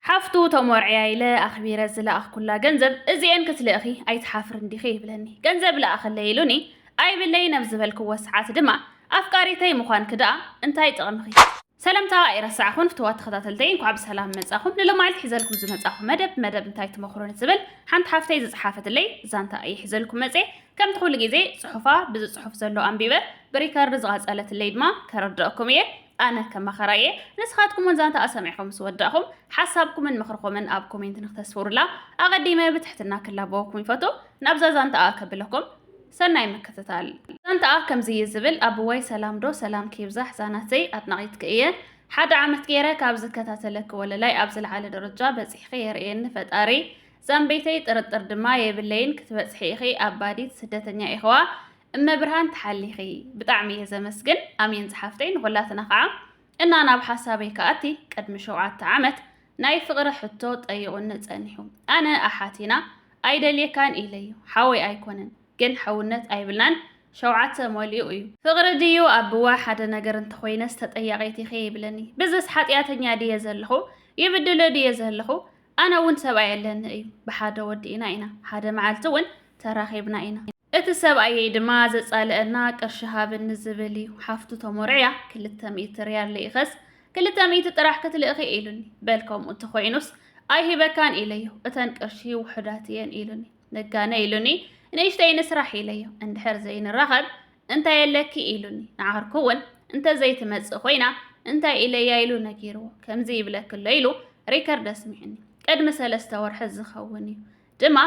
ሓፍቱ ተሞርዕያ ኢለ ኣኽቢረ ዝለኣኽኩላ ገንዘብ እዚኤን ክትልእኺ ኣይትሓፍርን ዲኺ ይብለኒ። ገንዘብ ልኣኸለይ ኢሉኒ ኣይብለይን ኣብ ዝበልክዎ ሰዓት ድማ ኣፍቃሪተይ ምዃንኪ ደኣ እንታይ ጥቕምኺ? ሰለምታ ኣይረሳዕኹን ፍትዋት ተኸታተልተይ እንኳዕ ብሰላም መጻኹም ንሎማዓልቲ ሒዘልኩም ዝመጻኹ መደብ መደብ እንታይ ትመኽሩ ንትብል ሓንቲ ሓፍተይ ዝጸሓፈትለይ ዛንታ እየ ሒዘልኩም መጼ ከምቲ ኩሉ ግዜ ጽሑፋ ብዚ ጽሑፍ ዘሎ ኣንቢበ ብሪከርድ ዝቐጸለትለይ ድማ ከረድኣኩም እየ ኣነ ከም መኸራ እየ ንስኻትኩም ውን ዛንታኣ ሰሚዕኹም ምስ ወዳእኹም ሓሳብኩምን ምኽርኹምን ኣብ ኮሜንት ንክተስፍሩላ ኣቐዲመ ብትሕትና ክላበወኩም ይፈቱ ናብዛ ዛንታኣ ከብለኩም ሰናይ ምክትታል ዛንታኣ ከምዚ እዩ ዝብል ኣብዋይ ሰላም ዶ ሰላም ክይብዛሕ ዛናተይ ኣድናቒትኪ እየ ሓደ ዓመት ገይረ ካብ ዝከታተለኪ ወለላይ ኣብ ዝለዓለ ደረጃ በፂሕኺ የርእየኒ ፈጣሪ ዛንበይተይ ጥርጥር ድማ የብለይን ክትበፅሒ ኢኺ ኣባዲት ስደተኛ ኢኽዋ እመ ብርሃን ትሓሊኺ ብጣዕሚ እየ ዘመስግን ኣሜን ዝሓፍተይ ንኹላትና ከዓ እና ናብ ሓሳበይ ከኣቲ ቅድሚ ሸውዓተ ዓመት ናይ ፍቕሪ ሕቶ ጠይቑኒ ጸኒሑ ኣነ ኣሓቲና ኣይደልየካን ኢለዩ ሓወይ ኣይኮነን ግን ሕውነት ኣይብልናን ሸውዓተ መሊኡ እዩ ፍቕሪ ድዩ ኣብዋ ሓደ ነገር እንተኾይነስ ተጠያቂት ኢኺ ይብለኒ ብዝስ ሓጢኣተኛ ድየ ዘለኹ ይብድሎ ድየ ዘለኹ ኣነ እውን ሰብኣይ ኣለኒ እዩ ብሓደ ወዲ ኢና ኢና ሓደ መዓልቲ እውን ተራኺብና ኢና እቲ ሰብኣየይ ድማ ዘጻልኣና ቅርሺ ሃብኒ ዝብል እዩ። ሓፍቱ ተሞርዕያ ክልተ ሚእቲ ርያል ልኢኸስ ክልተ ሚእቲ ጥራሕ ክትልእኺ ኢሉኒ። በል ከምኡ እንተኾይኑስ ኣይህበካን ኢለዮ። እተን ቅርሺ ውሑዳት እየን ኢሉኒ። ነጋነ ኢሉኒ ንእሽተይ ንስራሕ ኢለዮ። እንድሕር ዘይንራኸብ እንታይ ኣለኪ ኢሉኒ። ንዓርኩ እውን እንተዘይትመጽእ ኮይና እንታይ ኢለያ ኢሉ ነጊርዎ። ከምዚ ይብለኪ ኣሎ ኢሉ ሪከርድ ኣስሚዑኒ። ቅድሚ ሰለስተ ወርሒ ዝኸውን እዩ። ድማ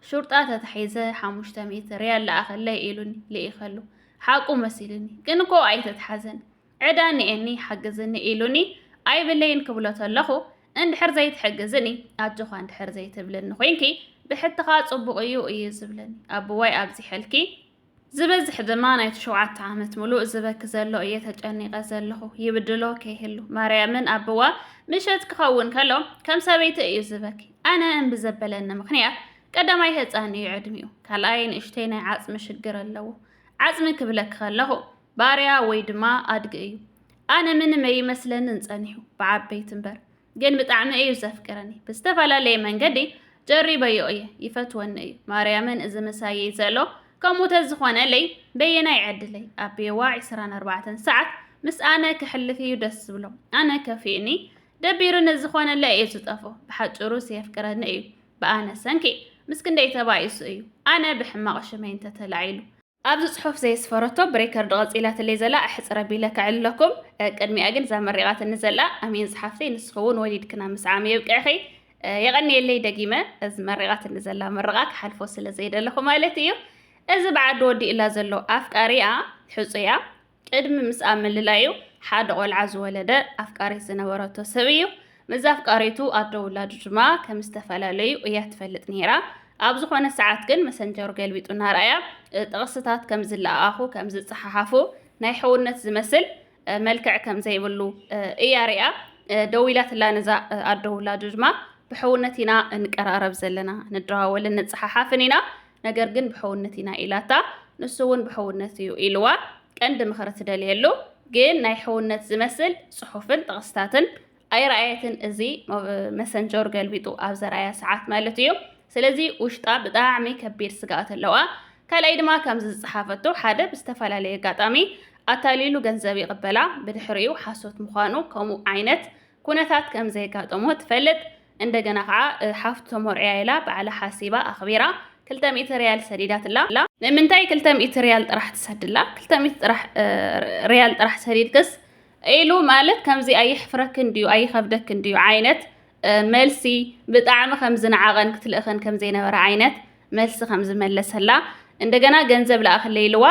ሹርጣ ተታሒዘ ሓሙሽተ ሚእቲ ሪያል ለኣኸለይ ኢሉኒ ልኢኸሉ ሓቁ መሲሉኒ ግን እኮ ኣይተትሓዘን ዕዳ እኒኤኒ ሓግዝኒ ኢሉኒ ኣይብለይን ክብሎ ተለኹ እንድሕር ዘይትሕግዝኒ ኣጆኻ እንድሕር ዘይትብልኒ ኮይንኪ ብሕትኻ ፅቡቕ እዩ እዩ ዝብለኒ ኣቦዋይ ኣብዚሐልኪ ዝበዝሕ ድማ ናይቲ ሸውዓተ ዓመት ምሉእ ዝበኪ ዘሎ እየ ተጨኒቐ ዘለኹ ይብድሎ ከይህሉ ማርያምን ኣቦዋ ምሸት ክኸውን ከሎ ከም ሰበይቲ እዩ ዝበኪ ኣነ እምቢ ዘበለኒ ምኽንያት ቀዳማይ ህፃን እዩ ዕድሚኡ ካልኣይ ንእሽተይ ናይ ዓፅሚ ሽግር ኣለዎ ዓፅሚ ክብለኪ ከለኹ ባርያ ወይ ድማ ኣድጊ እዩ ኣነ ምንም ኣይመስለንን ፀኒሑ ብዓበይቲ እምበር ግን ብጣዕሚ እዩ ዘፍቅረኒ ብዝተፈላለየ መንገዲ ጨሪበዮ እየ ይፈትወኒ እዩ ማርያምን እዚ ምሳየይ ዘሎ ከምኡ ተዝኾነለይ በየናይ ዕድለይ ኣቤዋ 24 ሰዓት ምስ ኣነ ክሕልፍ እዩ ደስ ዝብሎ ኣነ ከፊእኒ ደቢሩኒ ዝኾነለ እዩ ዝጠፍኦ ብሓጭሩ ስየፍቅረኒ እዩ ብኣነ ሰንኪ ምስ ክንደይ ተባኢሱ እዩ ኣነ ብሕማቕ ሽመይ እንተተላዒሉ ኣብዚ ጽሑፍ ዘየስፈረቶ ብሬከርድ ቐጺላትለይ ዘላ ኣሕጽረ ቢለ ከዕልለኩም ቅድሚኣ ግን እዛ መሪቓትኒ ዘላ ኣሜን ዝሓፍተይ ንስኺ ውን ወሊድክና ምስዓም የብቅዕኺ የቐንየለይ ደጊመ እዚ መሪቓትኒ ዘላ ምርቓ ክሓልፎ ስለ ዘይደለኹ ማለት እዩ እዚ ብዓዲ ወዲኡላ ዘሎ ኣፍቃሪኣ ሕጹያ ቅድሚ ምስኣ ምልላዩ ሓደ ቆልዓ ዝወለደ ኣፍቃሪት ዝነበረቶ ሰብ እዩ። ምስ ኣፍቃሪቱ ኣዶ ውላዱ ድማ ከም ዝተፈላለዩ እያ ትፈልጥ ነይራ። ኣብ ዝኾነ ሰዓት ግን መሰንጀሩ ገልቢጡ እናርኣያ ጥቕስታት ከም ዝለኣኣኹ ከም ዝፀሓሓፉ ናይ ሕውነት ዝመስል መልክዕ ከም ዘይብሉ እያ ሪኣ ደዊላትላ ነዛ ኣዶ ውላዱ ድማ ብሕውነት ኢና እንቀራረብ ዘለና ንደዋወልን ንፀሓሓፍን ኢና ነገር ግን ብሕውነት ኢና ኢላታ ንሱ እውን ብሕውነት እዩ ኢልዋ ቀንዲ ምኽሪ ትደልየሉ ግን ናይ ሕውነት ዝመስል ጽሑፍን ጥቕስታትን ኣይረኣየትን እዚ መሰንጀር ገልቢጡ ኣብ ዘርኣያ ሰዓት ማለት እዩ ስለዚ ውሽጣ ብጣዕሚ ከቢድ ስግኣት ኣለዋ ካልኣይ ድማ ከምዚ ዝጸሓፈቶ ሓደ ብዝተፈላለየ ኣጋጣሚ ኣታሊሉ ገንዘብ ይቕበላ ብድሕሪኡ ሓሶት ምዃኑ ከምኡ ዓይነት ኩነታት ከም ዘይጋጠሞ ትፈልጥ። እንደገና ከኣ ሓፍቱ ተሞርዕያ ኢላ ባዕላ ሓሲባ ኣኽቢራ ክልተ ሚእቲ ርያል ሰዲዳትላ። ንምንታይ ክልተ ሚእቲ ርያል ጥራሕ ትሰድላ? ክልተ ሚእቲ ጥራሕ ርያል ጥራሕ ሰዲድክስ ኢሉ ማለት ከምዚ ኣየሕፍረክን ድዩ ኣይኸብደክን ድዩ ዓይነት መልሲ ብጣዕሚ ከም ዝነዓቐን ክትልእኸን ከም ዘይነበረ ዓይነት መልሲ ከም ዝመለሰላ እንደገና ገንዘብ ለኣኽለይ ኢልዋ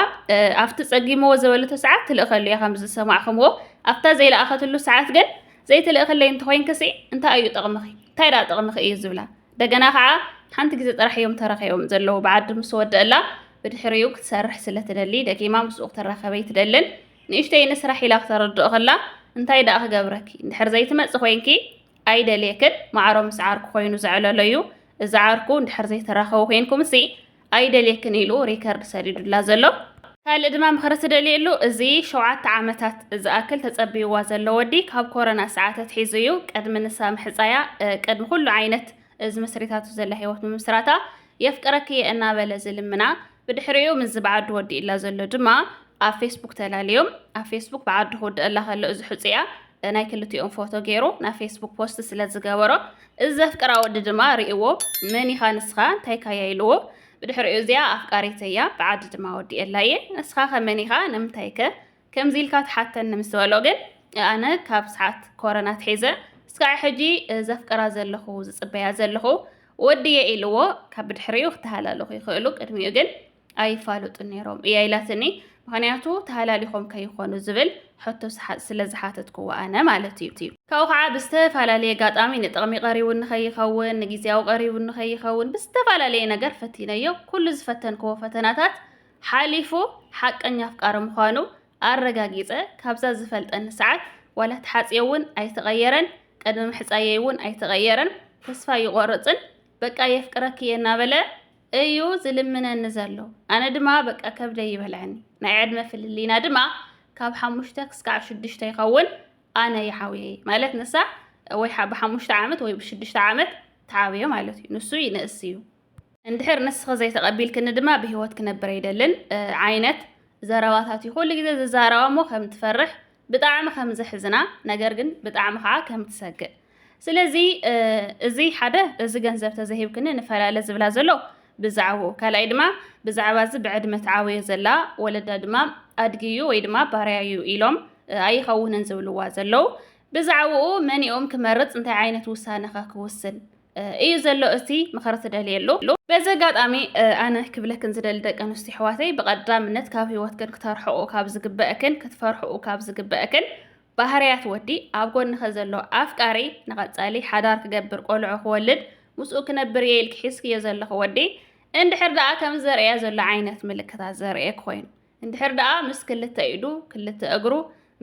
ኣብቲ ጸጊምዎ ዝበለቶ ሰዓት ትልእኸሉ እያ ከም ዝሰማዕኹምዎ ኣብታ ዘይለኣኸትሉ ሰዓት ግን ዘይትልእኽለይ እንተኾይንክሲ እንታይ እዩ ጥቕምኺ እንታይ ደኣ ጥቕምኺ እዩ ዝብላ እንደገና ከዓ ሓንቲ ግዜ ጥራሕ እዮም ተረኺቦም ዘለዉ ብዓዲ ምስ ወደእላ ብድሕሪኡ ክትሰርሕ ስለ ትደሊ ደጊማ ምስኡ ክትራኸበይ ትደልን ንእሽተይ ንስራሕ ኢላ ክተረድኦ ከላ እንታይ ደኣ ክገብረኪ እንድሕር ዘይትመጽእ ኮይንኪ ኣይደልየክን ማዕሮ ምስ ዓርኩ ኮይኑ ዘዕለሎ እዩ እዚ ዓርኩ እንድሕር ዘይተራኸቡ ኮይንኩምሲ ኣይደልየክን ኢሉ ሪከርድ ሰዲዱላ ዘሎ ካልእ ድማ ምኽሪ ትደልየሉ እዚ ሸውዓተ ዓመታት ዝኣክል ተጸብይዋ ዘሎ ወዲ ካብ ኮረና ሰዓት ኣትሒዙ እዩ ቅድሚ ንሳ ምሕጻያ ቅድሚ ኩሉ ዓይነት እዚ መስሪታቱ ዘላ ህይወት ምምስራታ የፍቅረኪ እየ እናበለ ዝልምና ብድሕሪኡ ምስዚ ብዓዱ ወዲእላ ዘሎ ድማ ኣብ ፌስቡክ ተላልዮም። ኣብ ፌስቡክ ብዓዱ ክውድእላ ከሎ እዚ ሕጹያ ናይ ክልቲኦም ፎቶ ገይሩ ናብ ፌስቡክ ፖስት ስለ ዝገበሮ እዚ ዘፍቅራ ወዲ ድማ ርእዎ መን ኢኻ ንስኻ እንታይ ካያ ኢልዎ ብድሕሪኡ እዚኣ ኣፍቃሪተያ ብዓዲ ድማ ወዲኤላ እየ ንስኻ ከመን ኢኻ ንምንታይ ከ ከምዚ ኢልካ ትሓተኒ ምስ በሎ ግን ኣነ ካብ ሰዓት ኮረና ኣትሒዘ እስካዕ ሕጂ ዘፍቅራ ዘለኹ ዝጽበያ ዘለኹ ወድየ ኢልዎ ካብ ብድሕሪኡ ክተሃላለኹ ይኽእሉ ቅድሚኡ ግን ኣይፋሉጡን ነይሮም እያ ኢላትኒ ምክንያቱ ተሃላሊኾም ከይኾኑ ዝብል ሕቶ ስለ ዝሓተትክዎ ኣነ ማለት እዩ ካብኡ ከዓ ብዝተፈላለየ ኣጋጣሚ ንጥቕሚ ቀሪቡ ንኸይኸውን ንግዜያዊ ቀሪቡ ንኸይኸውን ብዝተፈላለየ ነገር ፈቲነዮ ኩሉ ዝፈተንክዎ ፈተናታት ሓሊፉ ሓቀኛ ኣፍቃሪ ምዃኑ ኣረጋጊጸ ካብዛ ዝፈልጠኒ ሰዓት ዋላ ተሓጽዮ ውን ኣይተቐየረን ቅድሚ ምሕጻየይ ውን ኣይተቐየረን ተስፋ ኣይቖርጽን በቃ የፍቅረኪ እየ እናበለ እዩ ዝልምነኒ ዘሎ ኣነ ድማ በቃ ከብደይ ይበልዐኒ ናይ ዕድመ ፍልልይና ድማ ካብ ሓሙሽተ ክስካዕ ሽዱሽተ ይኸውን ኣነ ይዓብየ ማለት ንሳ ወይ ብሓሙሽተ ዓመት ወይ ብሽዱሽተ ዓመት ትዓብዮ ማለት እዩ ንሱ ይንእስ እዩ እንድሕር ንስኺ ዘይተቐቢልክኒ ድማ ብህይወት ክነብር ኣይደልን ዓይነት ዘረባታት እዩ ኩሉ ግዜ ዝዛረባ እሞ ከም ትፈርሕ ብጣዕሚ ከም ዘሕዝና ነገር ግን ብጣዕሚ ከዓ ከም ትሰግእ ስለዚ እዚ ሓደ እዚ ገንዘብ ተዘሂብክኒ ንፈላለ ዝብላ ዘሎ ብዛዕባኡ ካልኣይ ድማ ብዛዕባ እዚ ብዕድመ ትዓበዮ ዘላ ወለዳ ድማ ኣድጊ እዩ ወይ ድማ ባርያ እዩ ኢሎም ኣይኸውንን ዝብልዋ ዘለው ብዛዕባኡ መንኦም ክመርፅ እንታይ ዓይነት ውሳነ ኸ ክውስን እዩ ዘሎ እቲ ምኽሪ ትደልየሉ። በዚ ኣጋጣሚ ኣነ ክብለክን ዝደሊ ደቂ ኣንስትዮ ኣሕዋተይ ብቐዳምነት ካብ ህይወትክን ክተርሕቑ ካብ ዝግበአክን ክትፈርሕኡ ካብ ዝግበአክን ባህርያት ወዲ ኣብ ጎንኸ ዘሎ ኣፍቃሪ ንቐጻሊ ሓዳር ክገብር ቆልዑ ክወልድ ምስኡ ክነብር እየ ኢልክ ሒዝክዮ ዘለኹ ወዲ እንድሕር ደኣ ከም ዘርእያ ዘሎ ዓይነት ምልክታት ዘርእየክ ኮይኑ እንድሕር ደኣ ምስ ክልተ ኢዱ ክልተ እግሩ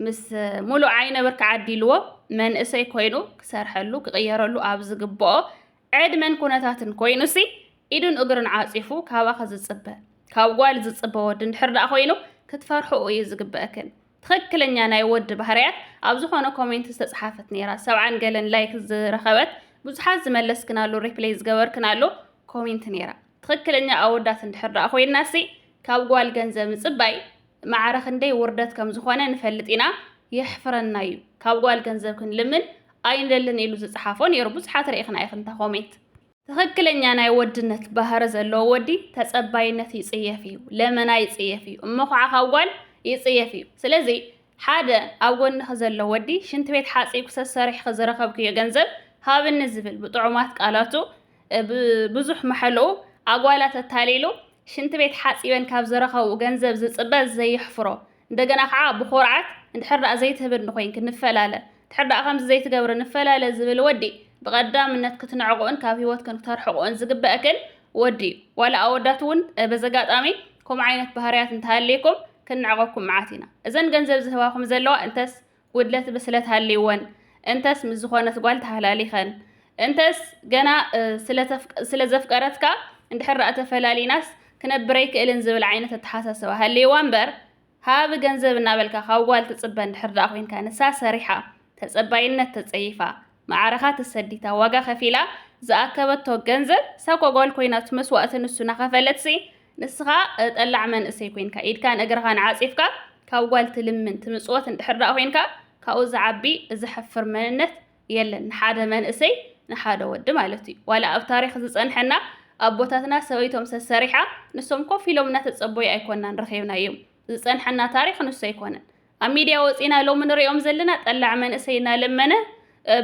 ምስ ሙሉእ ዓይነ ብርኪ ዓዲልዎ መንእሰይ ኮይኑ ክሰርሐሉ ክቕየረሉ ኣብ ዝግብኦ ዕድመን ኩነታትን ኮይኑሲ ኢዱን እግሩን ዓፂፉ ካባኺ ዝፅበ ካብ ጓል ዝፅበ ወዲ እንድሕር ደኣ ኮይኑ ክትፈርሕኡ እዩ ዝግበእክን። ትኽክለኛ ናይ ወዲ ባህርያት ኣብ ዝኾነ ኮሜንት ዝተፅሓፈት ነይራ ሰብዓን ገለን ላይክ ዝረኸበት ብዙሓት ዝመለስክናሉ ሪፕሌይ ዝገበርክናሉ ኮሜንት ነይራ ትኽክለኛ ኣወዳት እንድሕር ደኣ ኮይንናሲ ካብ ጓል ገንዘብ ምጽባይ ማዕረ ክንደይ ውርደት ከም ዝኾነ ንፈልጥ ኢና፣ የሕፍረና'ዩ፣ ካብ ጓል ገንዘብ ክንልምን ኣይንደልን ኢሉ ዝጸሓፎ ኔሩ ብዙሓት ርኢኽና ኢኽን እታ ኮሜንት። ትኽክለኛ ናይ ወድነት ባህሪ ዘለዎ ወዲ ተጸባይነት ይጽየፍ እዩ፣ ለመና ይጽየፍ እዩ፣ እሞ ኹዓ ካብ ጓል ይጽየፍ እዩ፣ ስለዚ ሓደ ኣብ ጎንኺ ዘሎ ወዲ ሽንት ቤት ሓጺብኪ ሰሰሪሕኺ ዝረኸብክዮ ገንዘብ ሃብኒ ዝብል ብጥዑማት ቃላቱ ብዙሕ መሐልኡ ኣጓላት ኣታሊሉ ሽንቲ ቤት ሓጺበን ካብ ዝረኸብኡ ገንዘብ ዝጽበ ዘየሕፍሮ እንደገና ከዓ ብኹርዓት እንድሕር ደኣ ዘይትህብኒ ኮይንኪ ንፈላለ እንድሕር ደኣ ከምዚ ዘይትገብሪ ንፈላለ ዝብል ወዲ ብቐዳምነት ክትንዕቕኡን ካብ ህይወትክን ክተርሕቕኡን ዝግበእክን ወዲ እዩ። ዋላ ኣወዳት እውን በዚ ኣጋጣሚ ከምኡ ዓይነት ባህርያት እንተሃልይኩም ክንዕቐኩም መዓት ኢና። እዘን ገንዘብ ዝህባኹም ዘለዋ እንተስ ጉድለት ብስለት ሃልይወን እንተስ ምስ ዝኾነት ጓል ተሃላሊኸን እንተስ ገና ስለ ዘፍቀረትካ እንድሕር ዳኣ ተፈላሊናስ ክነብር ኣይክእልን ዝብል ዓይነት ኣተሓሳስባ ሃልይዋ እምበር ሃብ ገንዘብ እናበልካ ካብ ጓል ትጽበ እንድሕር ዳኣ ኮንካ ንሳ ሰሪሓ ተጸባይነት ተጸይፋ መዓረኻ ተሰዲታ ዋጋ ከፊላ ዝኣከበቶ ገንዘብ እሳ እኮ ጓል ኮይናት መስዋእቲ ንሱ ናኸፈለትሲ ንስኻ ጠላዕ መንእሰይ ኮይንካ ኢድካን እግርኻን ዓጺፍካ ካብ ጓል ትልምን ትምጽወት እንድሕር ደኣ ኮይንካ ካብኡ ዝዓቢ ዘሕፍር መንነት የለን ንሓደ መንእሰይ ንሓደ ወዲ ማለት እዩ ዋላ ኣብ ታሪኽ ዝጸንሐና ኣቦታትና ሰበይቶም ሰሰሪሓ ንሶም ኮፍ ኢሎም እናተጸበዩ ኣይኮናን ረኺብናዮም ዝጸንሐና ታሪኽ ንሱ ኣይኮነን ኣብ ሚድያ ወፂና ሎሚ ንሪኦም ዘለና ጠላዕ መንእሰይ እናለመነ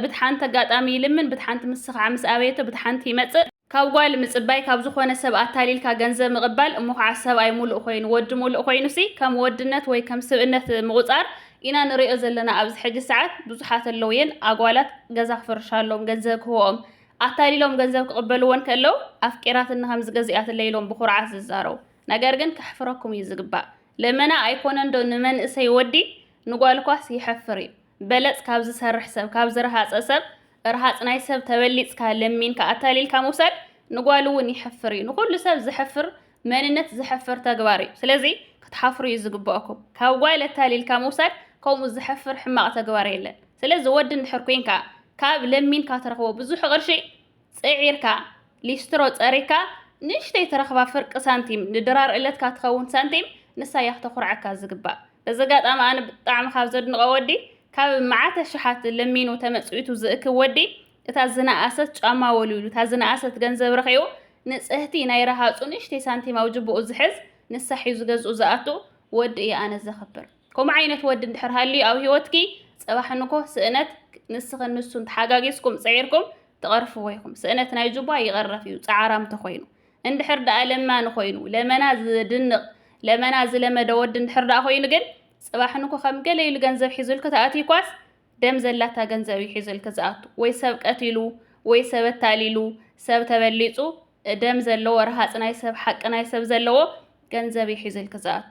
ብቲ ሓንቲ ኣጋጣሚ ይልምን ብቲ ሓንቲ ምስኻዕ ምስ ኣበየቶ ብቲ ሓንቲ ይመፅእ ካብ ጓል ምፅባይ ካብ ዝኾነ ሰብ ኣታሊልካ ገንዘብ ምቕባል እሞ ኻዓ ሰብኣይ ሙሉእ ኾይኑ ወዲ ሙሉእ ኾይኑሲ ከም ወድነት ወይ ከም ስብእነት ምቑፃር ኢና ንሪኦ ዘለና ኣብዚ ሕጂ ሰዓት ብዙሓት ኣለዉ እየን ኣጓላት ገዛ ክፍርሻሎም ገንዘብ ክህብኦም ኣታሊሎም ገንዘብ ክቕበልዎን ከለው ኣፍቂራትኒ ከም ዝገዚኣትለይ ኢሎም ብኹርዓት ዝዛረቡ ነገር ግን ከሕፍረኩም እዩ ዝግባእ ለመና ኣይኮነን ዶ ንመንእሰይ ወዲ ንጓልኳስ የሕፍር እዩ በለጽ ካብ ዝሰርሕ ሰብ ካብ ዝረሃጸ ሰብ ርሃጽ ናይ ሰብ ተበሊጽካ ለሚንካ ኣታሊልካ ምውሳድ ንጓል እውን የሕፍር እዩ ንኩሉ ሰብ ዘሕፍር መንነት ዘሕፍር ተግባር እዩ ስለዚ ክትሓፍሩ እዩ ዝግባኣኩም ካብ ጓል ኣታሊልካ ምውሳድ ከምኡ ዘሕፍር ሕማቕ ተግባር የለን ስለዚ ወዲ እንድሕር ኮንካ ካብ ለሚንካ ትረኽቦ ብዙሕ ቅርሺ ጽዒርካ፣ ሊስትሮ ጸሪግካ ንእሽተይ ትረኽባ ፍርቂ ሳንቲም፣ ንድራር እለትካ ትኸውን ሳንቲም ንሳ እያ ክተኹርዓካ ዝግባእ። በዚ ኣጋጣሚ ኣነ ብጣዕሚ ካብ ዘድንቖ ወዲ፣ ካብ መዓት ኣሽሓት ለሚኑ ተመጽዊቱ ዝእክብ ወዲ፣ እታ ዝነኣሰት ጫማ ወልዊሉ፣ እታ ዝነኣሰት ገንዘብ ረኺቡ፣ ንጽህቲ ናይ ረሃጹ ንእሽተይ ሳንቲም ኣብ ጅቡኡ ዝሕዝ፣ ንሳ ሒዙ ገዝኡ ዝኣቱ ወዲ እየ ኣነ ዘኽብር። ከምኡ ዓይነት ወዲ እንድሕር ሃልዩ ኣብ ሂወትኪ ጽባሕ ንግሆ ስእነት ንስኽን ንሱን ተሓጋጊዝኩም ጽዒርኩም ትቐርፍዎ ኢኹም። ስእነት ናይ ጁባ ይቐረፍ እዩ ጻዓራም ተኾይኑ። እንድሕር ድኣ ለማኒ ኮይኑ ለመና ዝድንቕ ለመና ዝለመደ ወዲ እንድሕር ድኣ ኮይኑ ግን ጽባሕ ንግሆ ከም ገለ ኢሉ ገንዘብ ሒዙልኪ ተኣትዩኳስ ደም ዘላታ ገንዘብ እዩ ሒዙልኪ ዝኣቱ ወይ ሰብ ቀቲሉ ወይ ሰብ ኣታሊሉ ሰብ ተበሊጹ ደም ዘለዎ ረሃጽ ናይ ሰብ ሓቂ ናይ ሰብ ዘለዎ ገንዘብ እዩ ሒዙልኪ ዝኣቱ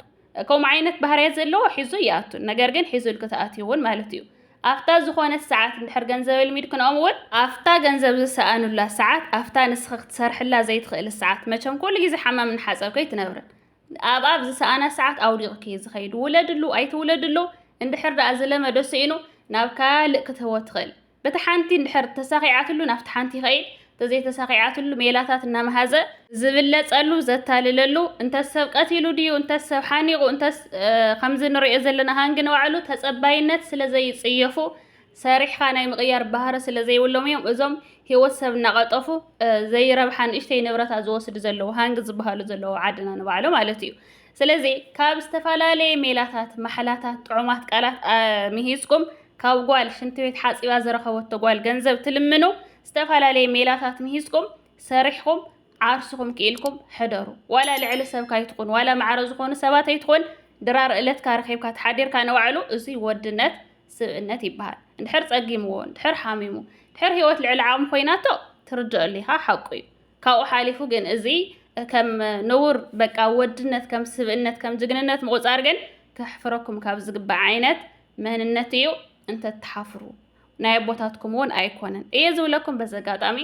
ከምኡ ዓይነት ባህርያት ዘለዎ ሒዙ ይኣቱ ነገር ግን ሒዙልኪ ትኣትዩ እውን ማለት እዩ ኣፍታ ዝኾነት ሰዓት እንድሕር ገንዘብ ኣልሚድ ክንኦም እውን ኣፍታ ገንዘብ ዝሰኣኑላ ሰዓት ኣፍታ ንስኺ ክትሰርሕላ ዘይትኽእል ሰዓት መቸም ኩሉ ግዜ ሓማምን ሓጸብ ከይትነብርን ኣብ ኣብ ዝሰኣና ሰዓት ኣውዲቕኪ እዩ ዝኸይድ ውለድሉ ኣይትውለድሉ እንድሕር ደኣ ዝለመዶ ስኢኑ ናብ ካልእ ክትህቦ ትኽእል በታ ሓንቲ እንድሕር ተሳኺዓትሉ ናብታ ሓንቲ ይኸይድ፣ እንተዘይተሳኺዓትሉ ሜላታት እናመሃዘ ዝብለጸሉ ዘታልለሉ፣ እንተስ ሰብ ቀቲሉ ድዩ፣ እንተስ ሰብ ሓኒቑ፣ እንተስ ከምዚ ንርእዮ ዘለና ሃንጊ ንባዕሉ ተጸባይነት ስለዘይጽየፉ ሰሪሕኻ ናይ ምቕያር ባህሪ ስለዘይብሎም እዮም እዞም ህይወት ሰብ እናቐጠፉ ዘይረብሓ ንእሽተይ ንብረታት ዝወስዱ ዘለዉ ሃንጊ ዝበሃሉ ዘለዉ ዓድና ንባዕሉ ማለት እዩ። ስለዚ ካብ ዝተፈላለየ ሜላታት፣ ማሕላታት፣ ጥዑማት ቃላት ምሂዝኩም ካብ ጓል ሽንቲ ቤት ሓጺባ ዝረኸበቶ ጓል ገንዘብ ትልምኑ፣ ዝተፈላለየ ሜላታት ምሂዝኩም ሰሪሕኹም ዓርስኹም ክኢልኩም ሕደሩ። ዋላ ልዕሊ ሰብ ካይትኹን፣ ዋላ ማዕረ ዝኾኑ ሰባት ኣይትኹን፣ ድራር እለትካ ረኺብካ ተሓዲርካ ንባዕሉ እዙይ ወድነት ስብእነት ይበሃል። እንድሕር ጸጊምዎ፣ እንድሕር ሓሚሙ፣ እንድሕር ህይወት ልዕሊ ዓቕሙ ኮይናቶ ትርድኦሉ ኢኻ፣ ሓቁ እዩ። ካብኡ ሓሊፉ ግን እዚ ከም ንቡር በቃ ወድነት ከም ስብእነት ከም ጅግንነት ምቑፃር ግን ከሕፍረኩም ካብ ዝግባእ ዓይነት መንነት እዩ እንተትሓፍሩ ናይ ኣቦታትኩም እውን ኣይኮነን እየ ዝብለኩም በዚ ኣጋጣሚ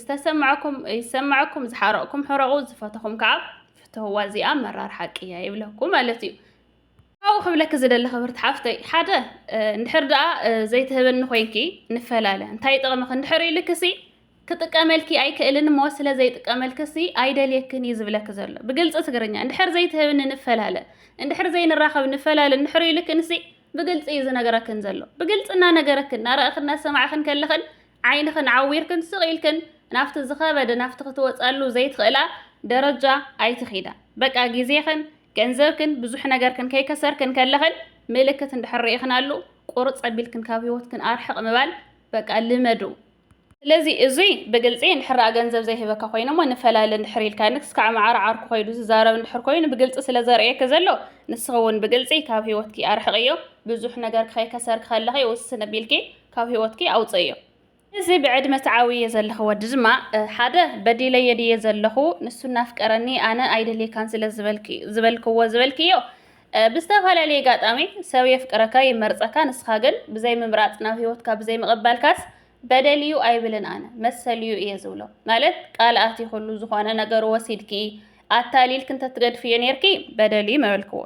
ዝተሰማዕኩም ይሰማዕኩም ዝሓረቕኩም ሕረቑ ዝፈተኹም ከዓ ፍትህዋ እዚኣ መራር ሓቂ እያ ይብለኩም ማለት እዩ ካብኡ ክብለኪ ዝደሊ ክብርቲ ሓፍተይ ሓደ እንድሕር ደኣ ዘይትህብኒ ኮይንኪ ንፈላለ እንታይ ይጠቕምኺ እንድሕር ኢልክሲ ክጥቀመልኪ ኣይክእልን እሞ ስለ ዘይጥቀመልክሲ ኣይደልየክን እዩ ዝብለኪ ዘሎ ብግልፂ ትግርኛ እንድሕር ዘይትህብኒ ንፈላለ እንድሕር ዘይንራኸብ ንፈላለ እንድሕር ኢልክንሲ ብግልፂ እዩ ዝነገረክን ዘሎ ብግልፂ እናነገረክን እናረእኽን እናሰማዕኽን ከለኽን ዓይንኽን ዓዊርክን ስቕ ኢልክን ናብቲ ዝኸበደ ናብቲ ክትወጸሉ ዘይትኽእላ ደረጃ ኣይትኺዳ። በቃ ግዜኽን ገንዘብክን ብዙሕ ነገርክን ከይከሰርክን ከለኽን ምልክት እንድሕር ርኢኽናሉ ቁርጽ ኣቢልክን ካብ ህይወትክን ኣርሕቕ ምባል በቃ ልመዱ። ስለዚ እዙይ ብግልፂ እንድሕራ ገንዘብ ዘይህበካ ኮይኑ እሞ ንፈላለ እንድሕር ኢልካኒ ክስካዕ መዓር ዓርኩ ኮይዱ ዝዛረብ እንድሕር ኮይኑ ብግልፂ ስለ ዘርእየኪ ዘሎ ንስኺ እውን ብግልፂ ካብ ህይወትኪ ኣርሕቕዮ ብዙሕ ነገር ክኸይከሰርኪ ከለኺ ውስን ኣቢልኪ ካብ ህይወትኪ ኣውፀዮ። እዚ ብዕድመ ትዓብይዮ ዘለኺ ወዲ ድማ ሓደ በዲለዮ ድየ ዘለኹ ንሱ እናፍቀረኒ ኣነ ኣይደልየካን ስለ ዝበልክዎ ዝበልክዮ ብዝተፈላለየ ኣጋጣሚ ሰብ የፍቅረካ ይመርፀካ ንስኻ ግን ብዘይምምራፅ ናብ ህይወትካ ብዘይምቕባልካስ በደል እዩ ኣይብልን ኣነ መሰል እዩ እየ ዝብሎ ማለት ቃል ኣቲኹሉ ዝኾነ ነገሩ ወሲድኪ ኣታሊልኪ እንተትገድፍዮ ነይርኪ በደል እዩ መበልክዎ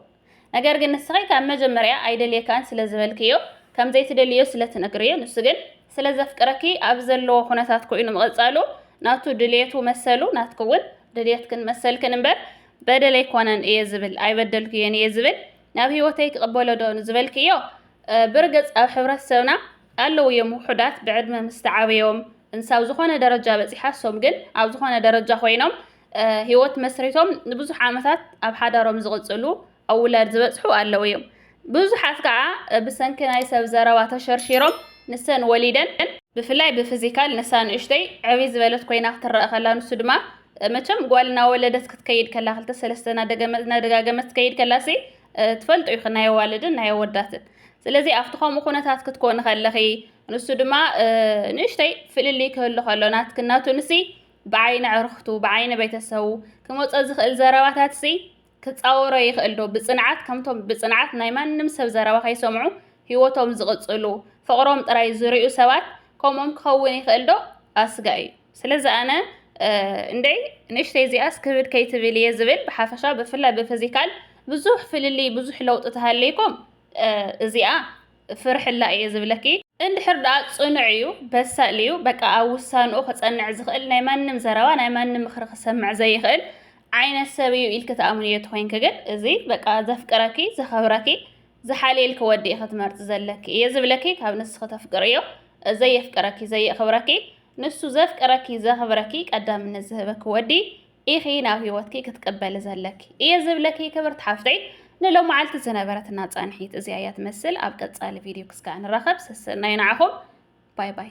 ነገር ግን ንስኺ ካብ መጀመርያ ኣይደልየካን ስለ ዝበልክዮ ከም ዘይትደልይዮ ስለ ትነግርዮ ንሱ ግን ስለ ዘፍቅረኪ ኣብ ዘለዎ ኩነታት ኮይኑ ምቕጻሉ ናቱ ድልየቱ መሰሉ ናትኪ ውን ድልየትክን መሰልክን እምበር በደል ኣይኮነን እየ ዝብል ኣይበደልክዮን እየ ዝብል ናብ ህይወተይ ክቕበሎ ዶ ንዝበልክዮ ብርግጽ ኣብ ሕብረተሰብና ኣለዉ እዮም ውሑዳት ብዕድመ ምስ ተዓበዮም እንሳብ ዝኾነ ደረጃ በጺሓሶም ግን ኣብ ዝኾነ ደረጃ ኮይኖም ህይወት መስሪቶም ንብዙሕ ዓመታት ኣብ ሓዳሮም ዝቕጽሉ ኣብ ውላድ ዝበጽሑ ኣለዉ እዮም። ብዙሓት ከዓ ብሰንኪ ናይ ሰብ ዘረባ ተሸርሺሮም ንሰን ወሊደን ብፍላይ ብፍዚካል ንሳ ንእሽተይ ዕብይ ዝበለት ኮይና ክትረኣ ከላ ንሱ ድማ መቸም ጓል እናወለደት ክትከይድ ከላ ክልተ ሰለስተ እናደጋገመት ትከይድ ከላሲ ትፈልጡ ኢኺ ናይ ኣዋልድን ናይ ኣወዳትን ስለዚ ኣብቲ ከምኡ ኩነታት ክትኮኒ ከለኺ ንሱ ድማ ንእሽተይ ፍልልይ ክህሉ ከሎ ናትክን ናቱንሲ ብዓይኒ ኣዕሩኽቱ፣ ብዓይኒ ቤተሰቡ፣ ክመጾ ዝኽእል ዘረባታትሲ ክጻወሮ ይኽእልዶ? ብጽንዓት ከምቶም ብጽንዓት ናይ ማንም ሰብ ዘረባ ከይሰምዑ ህይወቶም ዝቕጽሉ፣ ፍቕሮም ጥራይ ዝርእዩ ሰባት ከምኦም ክኸውን ይኽእልዶ? ኣስጋኢ እዩ። ስለዚ ኣነ እንደይ ንእሽተይ እዚኣስ ክብድ ከይትብል እየ ዝብል። ብሓፈሻ ብፍላይ ብፊዚካል ብዙሕ ፍልልይ ብዙሕ ለውጢ ተሃልይኩም እዚኣ ፍርሕላ እየ ዝብለኪ። እንድሕር ድኣ ጽኑዕ እዩ በሳል እዩ በቃ ኣብ ውሳንኡ ክጸንዕ ዝኽእል ናይ ማንም ዘረባ ናይ ማንም ምኽሪ ክሰምዕ ዘይኽእል ዓይነት ሰብ እዩ ኢልኪ ትኣምንዮ ተኾይንኪ ግን እዚ በቃ ዘፍቅረኪ ዘኸብረኪ ዝሓልየልኪ ወዲ ኢኺ ትመርጺ ዘለኪ እየ ዝብለኪ ካብ ንስኺ ተፍቅርዮ ዘየፍቅረኪ ዘየኽብረኪ ንሱ ዘፍቅረኪ ዘኽብረኪ ቀዳምነት ዝህበኪ ወዲ ኢኺ ናብ ህይወትኪ ክትቅበሊ ዘለኪ እየ ዝብለኪ ክብርቲ ሓፍተይ ንሎማዓልቲ ዝነበረትና ፃንሒት እዚኣ እያ ትመስል ኣብ ቀፃሊ ቪድዮ ክስካዕ ንራኸብ ሰሰናዩ ንዓኹም ባይ ባይ